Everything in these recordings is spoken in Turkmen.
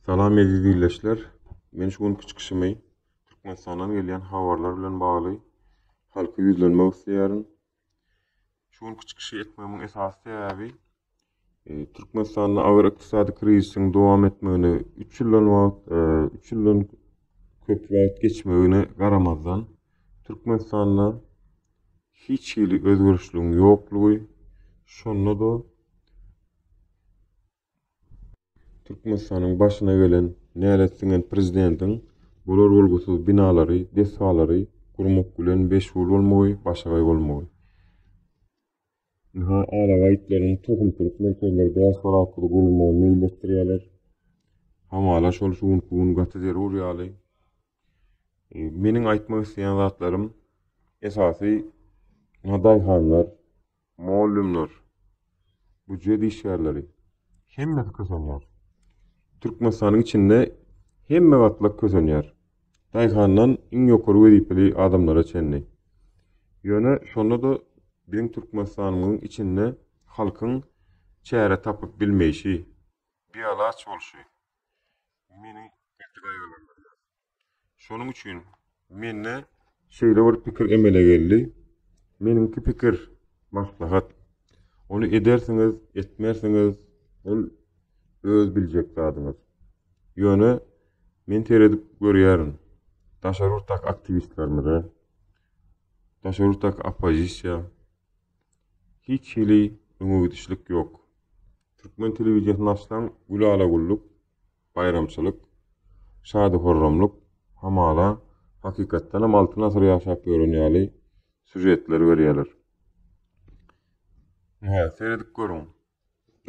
Salam eziz ildeşler. Men şu günki çykyşymy Türkmenistandan gelýän habarlar bilen bagly halka ýüzlenmek isleýärin. Şu günki çykyşy etmegiň esasy sebäbi e, Türkmenistanda agyr ykdysady krizisiň dowam etmegine 3 ýyldan wagt, 3 e, ýyldan köp wagt geçmegine garamazdan Türkmenistanda hiç hili özgerişligiň ýoklugy, şonda da Türkmenistanyň başyna gelen nälet siňen prezidentiň bolar bolgusyz binalary, desgalary gurmak bilen meşgul bolmagy, başagaý bolmagy. Ynha, alabaý itleriniň tohum çürük merkezleri bäş bar atly gurulmagyny meýilleşdirýärler. Hamala şol şu günki gün gaty zerur ýaly. Meniň aýtmak isleýän zatlarym esasy daýhanlar, mugallymlar, býujet işgärleri hemmesi kösenýär. Türkmenistanyň içinde hemme gatlak kösenýär. Daýhandan iň ýokary wezipeli adamlara çenli. Ýöne şonda-da biziň Türkmenistanymyzyň içinde halkyň çäre tapyp bilmeýşi, bialaç bolşy, meni gaty gaýgylandyrýar. Şonuň üçin mende şeýle bir pikir emele geldi. Meniňki pikir, maslahat. Ony edersiňiz, etmersiňiz, ol öz biljek zadyňyz. Ýöne men seredip görýärin. Daşary ýurtdaky aktiwistlerimize, daşary ýurtdaky oppozisiýa hiç hili öňe gidişlik ýok. Türkmen telewiziýasyny açsaň, gülala-güllük, baýramçylyk, şady-horramlyk, hamala, hakykatdanam Altyn asyr ýaşap ýören ýaly sýužetleri berýärler. Ine, seredip görüň,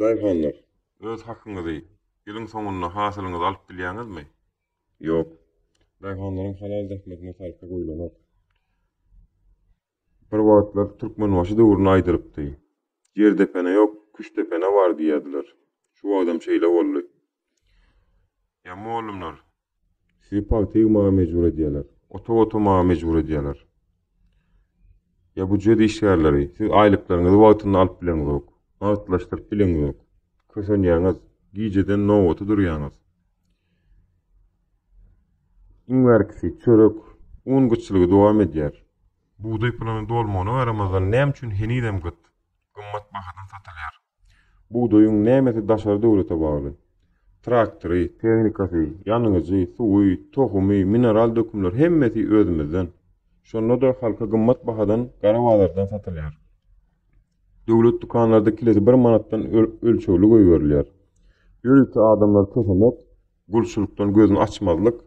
daýhanlar, öz hakyňyzy ýylyň soňunda hasylyňyzy alyp bilýäňizmi? Ýok. Daýhanlaryň halal zähmetine sarpa goýlanok. Bir wagtlar Türkmenbaşy döwründe aýdylypdy, Ýer depene ýok, küşt depene bar diýýärdiler. Şu wagtam şeýle boldy. Ýa mollumlar. Sizi pagta ýygmaga mejbur edýärler. Otag otamaga mejbur edýärler. Ýa býujet işgärleri, siz aýlyklaryňyzy wagtynda alyp bileňizok, nagtlaşdyryp bileňizok. Kösenýäňiz, gijeden nobata durýaňyz. Iň bärkisi çörek, un gytçylygy dowam edýär. Bugdaý pulunyň dolmagyna garamazdan näme üçin henizem gyt, gymmat bahadan satylýar? Bugdaýyň nämesi daşary döwlete bagly? Traktory, tehnikasy, ýanyjy, suwy, tohumy, mineral dökümleri hemmesi özümizden. Şonda-da halka gymmat bahadan gara bazardan satylýar. Döwlet dükanlarda kilesi bir manatdan ölçegli goýberilýär. Ýörite adamlar kösemek, Gulçulykdan gözüni açmazlyk,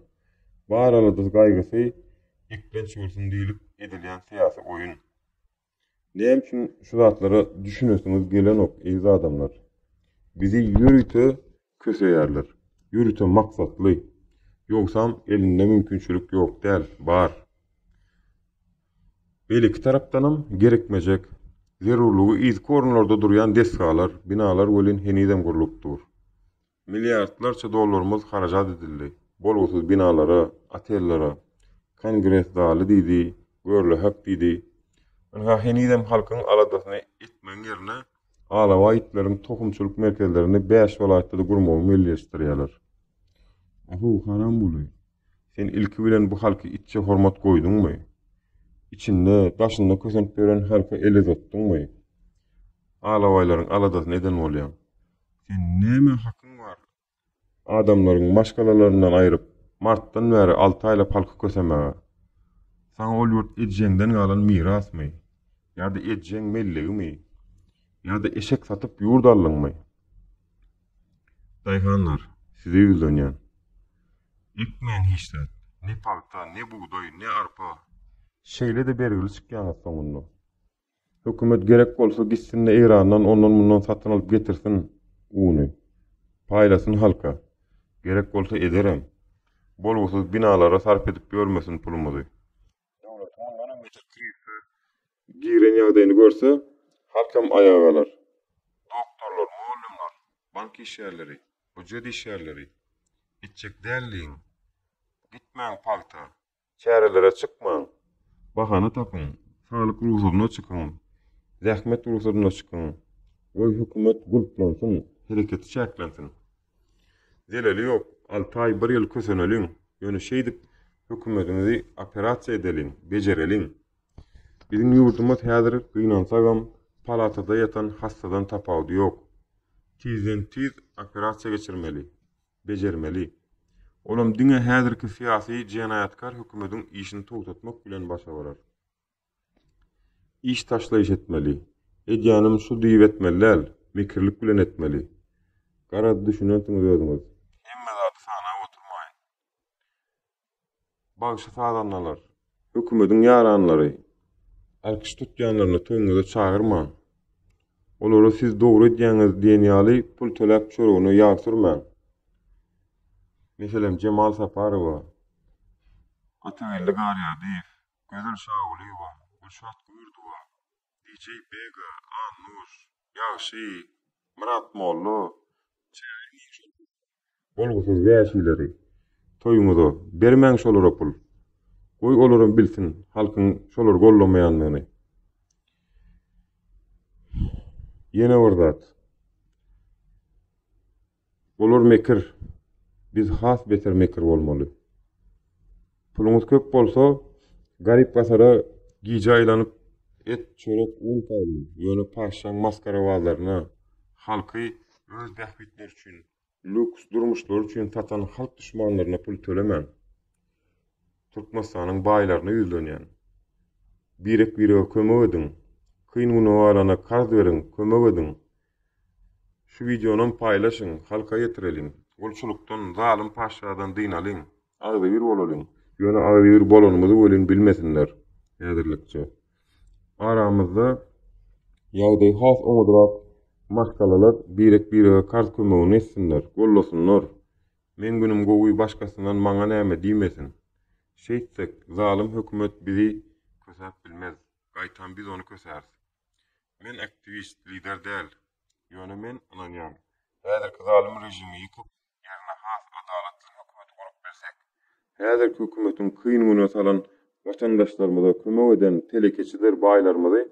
bar aladasy gaýgysy eklenç bolsun diýlip edilýän syýasy oýun. Näme üçin şu zatlara düşünesiňiz gelenok eziz adamlar? Bizi ýörite köseýärler. Ýörite maksatly. Ýogsam elinde mümkinçilik ýok däl, bar. Beýleki tarapdanam gerekmejek, zerurlygy yzky orunlarda durýan desgalar, binalar welin henizem gurlup dur. Milliardlarça dollarymyz harajat edildi. Bolgusyz binalara, otellere, Kongres zaly diýdi, görle-hak diýdi. Ynha, henizem halkyň aladasyny etmegiň ýerine, alabaý itleriň tohumçylyk merkezlerini bäş welaýatda-da gurmagy meýilleşdirýärler. Ahow, Haramguly, sen ilki bilen bu halky itçe hormat goýduňmy? Içinde, daşynda kösenip ýören halka el uzatdyňmy? Alabaýlaryň aladasyny eden bolýaň. Sen näme hakyň bar adamlaryň maşgalalaryndan aýryp, martdan bäri alty aýla palky kösemäge? Saňa ol ýurt ejeňden galan mirasmy? Ýa-da ejeň mellegimi? Ýa-da eşek satyp ýurt aldyňmy? Daýhanlar, size ýüzlenýän. Ekmäň hiç zat. Ne pagta, ne bugdaý, ne arpa. Şeýle-de bergili çykýaňyz soňunda. Hökümet gerek bolsa gitsin-de Eýrandan ondan-mundan satyn alyp getirsin uny. Paýlasyn halka. Gerek bolsa ederem. Bolgusyz binalara sarp edip ýörmesin pulumyzy. Döwletiň mundanam beter krizise giren ýagdaýyny görse, halkam aýaga galar. Doktorlar, mugallymlar, bank işgärleri, býujet işgärleri, gitjek däldigiň, gitmäň pagta. Çärelere çykmaň. Bahana tapyň. Saglyk rugsadyna çykyň. Zähmet rugsadyna çykyň. Goý hökümet gulplansyn, hereketi çäklensin. Zeleli ýok, alty aý, bir ýyl köseneliň, ýöne şeýdip hökümetiňizi operasiýa edeliň, bejereliň. Biziň ýurdumyz häzir gynansagam, palatada ýatan hassadan tapawudy ýok. Tizden-tiz operasiýa geçirmeli. bejermeli. Olam diňe häzirki syýasy jenaýatkar hökümediň işini togtatmak bilen başa barar. Iş taşlaýyş etmeli. Edýänim şu diýip etmeli däl, mekirlik bilen etmeli. Garaz düşünensiňiz özüňiz. Hemme zady sanap oturmaýyn. bagşy-sazandalar, hökümediň ýaranlary alkyş tutýanlaryny toýuňyza çagyrmaň. Olara siz dogry edýäňiz diýen ýaly pul töläp çöregine ýag sürmäň. Meselem, Jemal Saparowa, Atageldi Garýardyýew, Gözel Şagulyýewa, Gülşat Gürdowa, DJ Bega, Annuş, Ýagşy, Myrat Molla, Çary Nyýazow, Bolgusyz wäşileri toýuňyza bermäň şolara pul. Goý olaram bilsin halkyň şolary gollamaýandygyny. Ýene bir zat. Olar mekir. Biz has beter mekir bolmaly. Puluňyz köp bolsa, garyp-gasara gije aýlanyp, et, çörek, un paýlaň. Ýöne patyşaň masgarabazlaryna, halky öz bähbitleri üçin, lýuks durmuşlary üçin satan halk duşmanlaryna pul tölemäň. Türkmenistanyň baýlaryna ýüzlenýän. Birek-birege kömek ediň. Kyn güne galana karz beriň, kömek ediň. Şu wideonam paýlaşyň, halka ýetireliň. Gulçulykdan, zalym patyşadan dynalyň. Agzybir bolalyň. Ýöne agzybir bolanymyzy welin bilmesinler. Häzirlikçe. Aramyzda ýagdaýy has oňadrak maşgalalar birek-birege karz kömegini etsinler, gollasynlar. Meň günüm gowy başgasyndan maňa näme diýmesin. Şeýtsek, zalym hökümet bizi kösäp bilmez. Gaýtam biz ony kösäris. Men aktiwist, lider däl. Ýöne men ynanýan. Häzirki zalym režimi ýykyp, ýerine has adalatly hökümeti gurup bilsek, häzirki hökümetiň kyn güne salan watandaşlarymyza kömek eden telekeçiler baýlarymyzy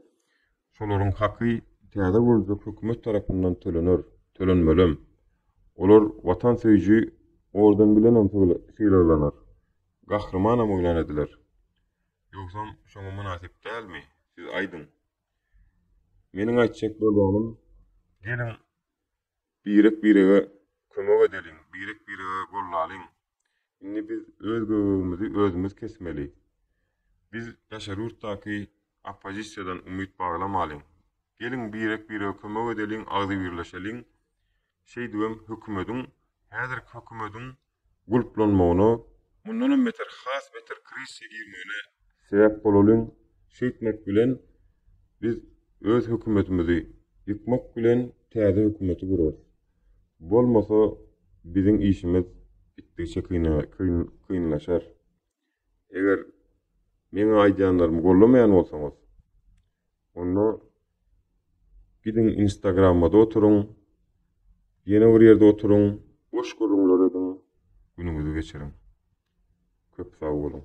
şolaryň haky täze gurljak hökümet tarapyndan tölener, tölenmelem. Olar watan söýüji orden bilenem sylaglanar, gahrymanam yglan ediler. Ýogsam şoňa mynasyp dälmi, siz aýdyň. Meniň aýtjak bolýanym, geliň Birek-birege kömek edeliň, birek-birege gollalyň. Indi biz öz göbegimizi özümiz kesmeli. Biz daşary ýurtdaky oppozisiýadan umyt baglamalyň. Geliň birek-birege kömek edeliň, agzybirleşeliň. Şeýdibem hökümediň, häzirki hökümediň gulplanmagyna, mundanam beter has beter krizise girmegine sebäp bolalyň, şeýtmek bilen biz öz hökümetimizi ýykmak bilen täze hökümeti gurarys. Bolmasa biziň işimiz gitdigiçe kynlaşar. Eger meň aýdýanlarymy gollamaýan bolsaňyz, onda gidiň Instagramada oturyň, ýene bir ýerde oturyň, boş gürrüňler ediň, günüňizi geçiriň. Köp sag boluň.